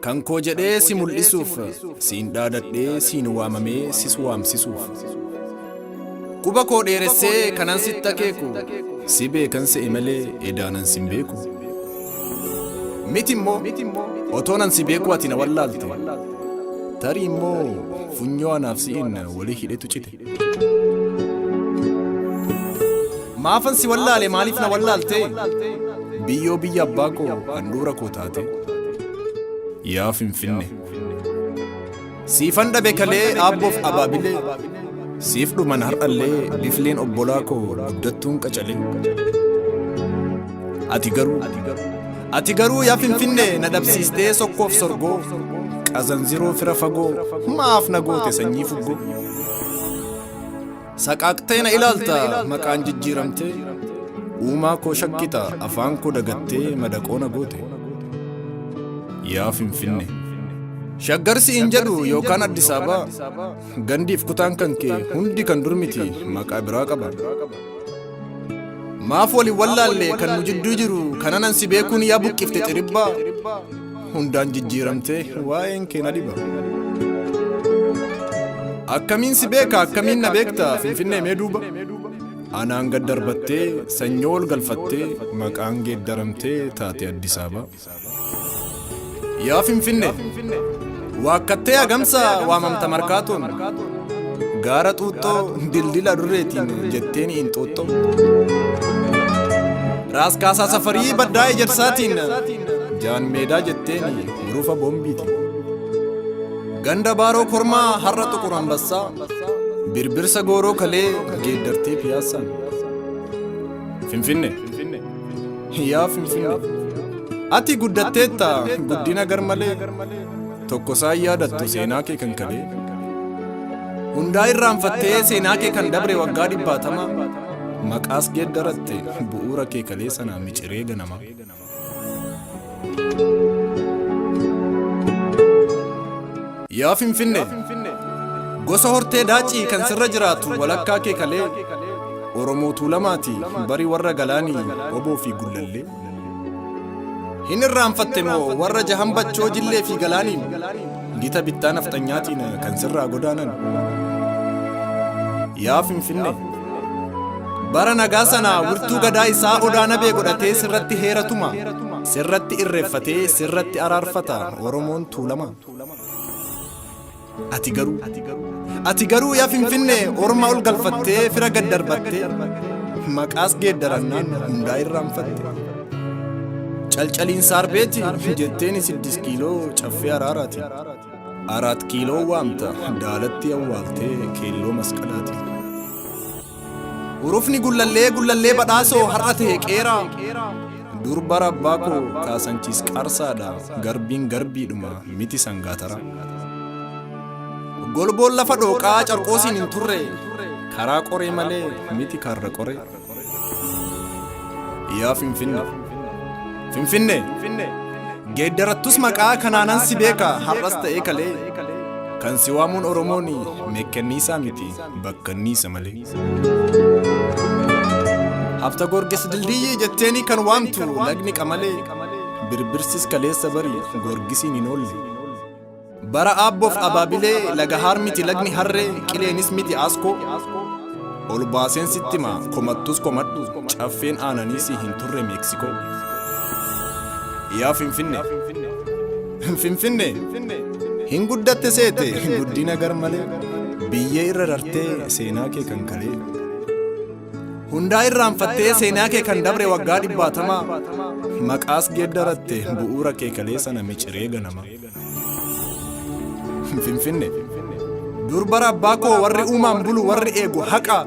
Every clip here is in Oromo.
Kan koo jedhee si mul'isuuf, siin dhaadadhee siin waamamee sis waamsisuuf. Quba koo dheeressee kanan sitti akeeku, si beekan se'e malee edaanan sin beeku. Miti immoo otoonan si beeku ati na wallaalte, tarii immoo funyoo anaaf si'in walii hidhetu cite. Maafan si wallaale maaliif na wallaaltee? Biyyoo biyya abbaa koo handhuura koo taate. Yaa Finfinne. Siifan dhabe kalee aabboof abaabilee. Siif dhuman har'allee bifleen obbolaa koo guddattuun qacalee. Ati garuu Ati garuu yaa finfinne na dhabsiistee sokkoof sorgoo qazanziroo fira fagoo maaf na goote sanyii fuggoo. Saqaaqtee na ilaalta maqaan jijjiiramtee uumaa koo shakkita afaan koo dagattee madaqoo na goote. Yaa finfinne. Shaggarsi hin jedhu yookaan Addis Ababa gandiif kutaan kan kee hundi kan durmiti maqaa biraa qaba. Maaf wali wallaalle kan nu jidduu jiru kananan si beekuun yaa buqqifte xiribbaa hundaan jijjiiramte waa'een kee na dhiba. Akkamiin si beeka akkamiin na beekta finfinnee mee duuba. Anaan gad darbattee sanyoo ol galfattee maqaan geeddaramtee taate Addis Ababa. Yaa Finfinne, waakkattee hagamsa waamamta markaatoon, gaara xuuxxoo dildila durreetiin jetteen inxuuxxoo. Raas kaasaa safarii baddaa ejersaatiin, jaan meedaa jetteen hurufa boombiitiin. Ganda baaroo kormaa har'a xuqur ambassaa, birbirsa gooroo kalee geeddartee piyaassaan. Finfinne. Yaa Finfinnee ati guddatteetta guddina garmalee tokko saan yaadattu seenaa kee kan kalee hundaa irraanfattee seenaa kee kan dabre waggaa dhibbaatama maqaas geeddaratte bu'uura kee kalee sanaa miciree ganama. Yaa Finfinne gosa hortee daacii kan sirra jiraatu walakkaa kee kalee Oromoo Tuulamaati bari warra galaanii oboo fi gullallee. Hin irraanfatte moo warra jahan bachoo jillee fi galaaniin Gita bittaa nafxanyaatiin kan sirraa godaanan. Yaa Finfinnee! Bara nagaa sana wirtuu gadaa isaa odaa nabee godhatee sirratti heera tuma. Sirratti irreeffatee sirratti araarfata Oromoon tuulama. Ati garuu ati garuu yaa Finfinnee orma ol galfattee fira gad darbattee maqaas geeddarannaan hundaa irraanfatte. Calcaliin saarbeeti jetteen siddis kiiloo caffee araaraati. Araat kiiloo waamta daalatti awwaaltee keelloo masqalaati. Urufni gullallee gullallee badhaasoo har'a ta'e qeeraa. Durba rabbaa koo kaasanchiis qaarsaadha garbiin garbiidhuma miti sangaatara. Golboon lafa dhooqaa carqoosiin hin turre karaa qoree malee miti karra qoree. Yaa Finfinne. Finfinne. Geeddarattus maqaa kanaanan si beeka har'as ta'ee kalee. Kan si waamuun Oromoon meekkanniisaa miti bakkanniisa malee. Hafta Goorgis dildiyyii jetteeni kan waamtu lagni qamalee. Birbirsis kaleessa bari Goorgisiin hin oolle. Bara aabboof abaabilee laga haar miti lagni harree qileenis miti aaskoo. Ol baaseen sitti hima komattus komadhu caffeen aananii si hin turre Meeksikoo. Yaa Finfinne. Finfinne. Hin guddatte seete guddina gar malee biyyee irra rartee seenaa kee kan kalee. Hundaa irraanfattee seenaa kee kan dabre waggaa dhibbaatamaa maqaas geeddaratte bu'uura kee kalee sana miciree ganama. Finfinne. Dur bara abbaa koo warri uumaan bulu warri eegu haqa.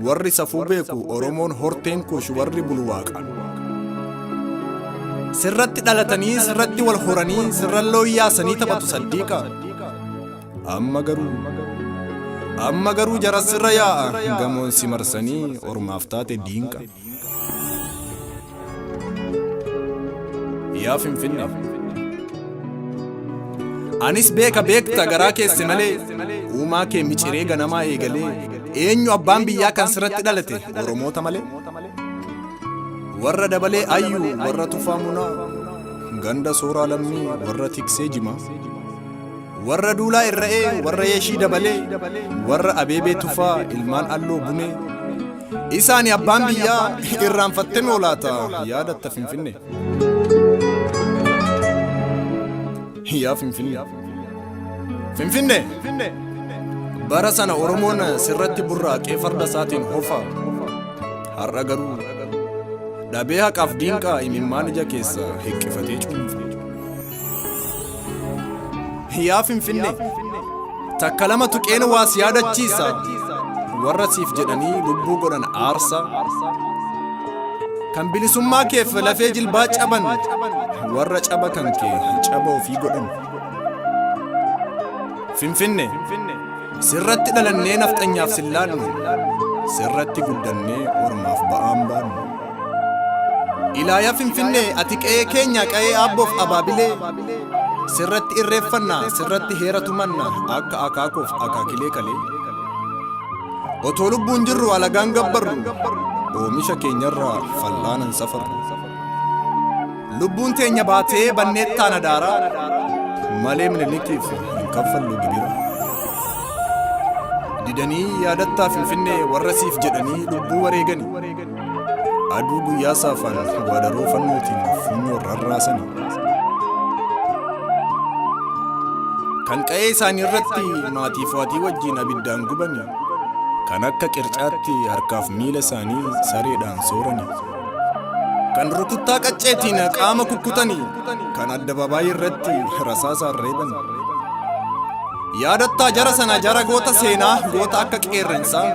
Warri safuu beeku Oromoon horteen kuush warri bulu waaqa. Sirratti dhalatanii sirratti wal horanii sirran looyyaasanii taphatu saddiiqa. Amma garuu amma garuu jaras sirra yaa'a gamoon si marsanii ormaaf taate diinqa. Yaa Finfinne. Anis beeka beekta garaa keesse malee uumaa kee miciree ganamaa eegalee eenyu abbaan biyyaa kan sirratti dhalate Oromoota malee. Warra dabalee ayyuu warra tufaa munaa ganda sooraa lammii warra tiksee jimaa. Warra duulaa irra'ee warra yeeshii dabalee warra abeebee tufaa ilmaan alloo bunee. Isaani abbaan biyyaa irraanfattee moo laata yaadatta finfinne. Yaa finfinne. Finfinne. Bara sana Oromoon sirratti burraaqee farda isaatiin hofa. Har'a garuu dhabee haqaaf diinqaa imimmaan ija keessa hiqqifatee cuunfa. Yaa Finfinnee! Takka lama tuqeen waa si yaadachiisa. Warra siif jedhanii lubbuu godhan aarsa. Kan bilisummaa keef lafee jilbaa caban. Warra caba kan kee caba ofii godhan. Finfinnee! Sirratti dhalannee nafxanyaaf sin laannu. Sirratti guddannee ormaaf ba'aan baannu. Ilaaya Finfinnee ati qe'ee keenya qa'ee aabboof abaabilee sirratti irreeffanna sirratti heera tumanna akka akaakoof akaakilee kalee otoo lubbuun jirru alagaan gabbarru oomisha keenyarraa fal'aanan safarru lubbuun teenya baatee banneettaan adaaraa malee minilikiif hin kaffallu gibira didanii yaadattaa finfinnee warra siif jedhanii lubbuu wareegani Aduu guyyaa saafaan waadaroo fannootiin funyoo rarraasani. Kan qa'ee isaanii irratti maatii fo'atii wajjin abiddaan gubani. Kan akka qircaatti harkaaf miila isaanii sareedhaan soorani. Kan rukuttaa qacceetiin qaama kukkutani. Kan addabaabaayii irratti rasaasaan reebani. Yaadattaa jara sana jara goota seenaa goota akka qeerrensaa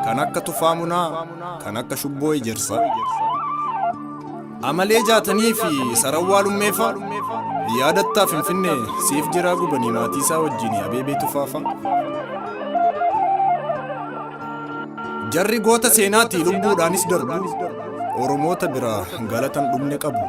kan akka tufaa munaa kan akka shubboo ejersa amalee jaatanii fi sarawwaa lummeefa yaadattaa finfinnee siif jiraa gubanii maatii isaa wajjin abeebee tufaafa jarri goota seenaatii lubbuudhaanis darbu oromoota biraa galatan dhumne qabu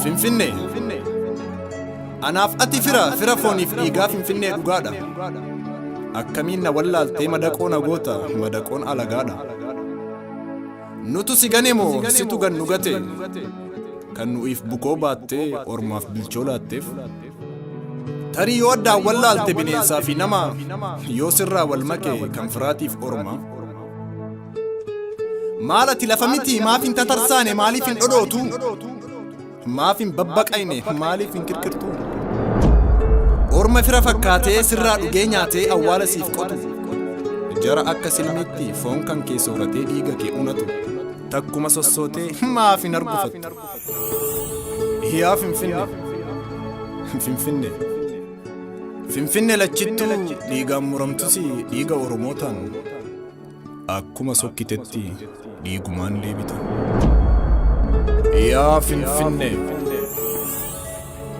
Finfinnee. Anaaf ati fira fira fooniif dhiigaa Finfinnee dhugaadha. Akkamiin na wallaaltee madaqoo na goota madaqoon alagaadha. Nutu si gane moo situ gan nu gate? Kan nu'iif bukoo baattee ormaaf bilchoo laatteef. Tarii yoo addaan wal laalte bineensaa fi nama yoo sirraa wal make kan firaatiif orma. Maal ati lafa miti maaf hin tatarsaane maaliif hin dhodhootu? Maaf hin babbaqayne maaliif hin kirkirtu? Orma fira fakkaatee sirraa dhugee nyaatee awwaala siif qotu. Jara akka silmiitti foon kan kee sooratee dhiiga kee unatu. Takkuma sossootee maaf hin argufattu? Yaa Finfinne! Finfinne! Finfinne lachittuu dhiigaan muramtus dhiiga Oromootaan. Akkuma sokkitetti dhiigumaan deebita. Yaa Finfinne!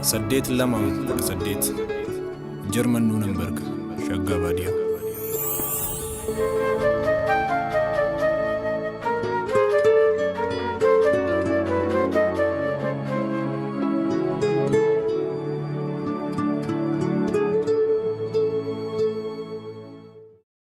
8218 Jarman Nuunenberg Shaggaa Baadiyaa.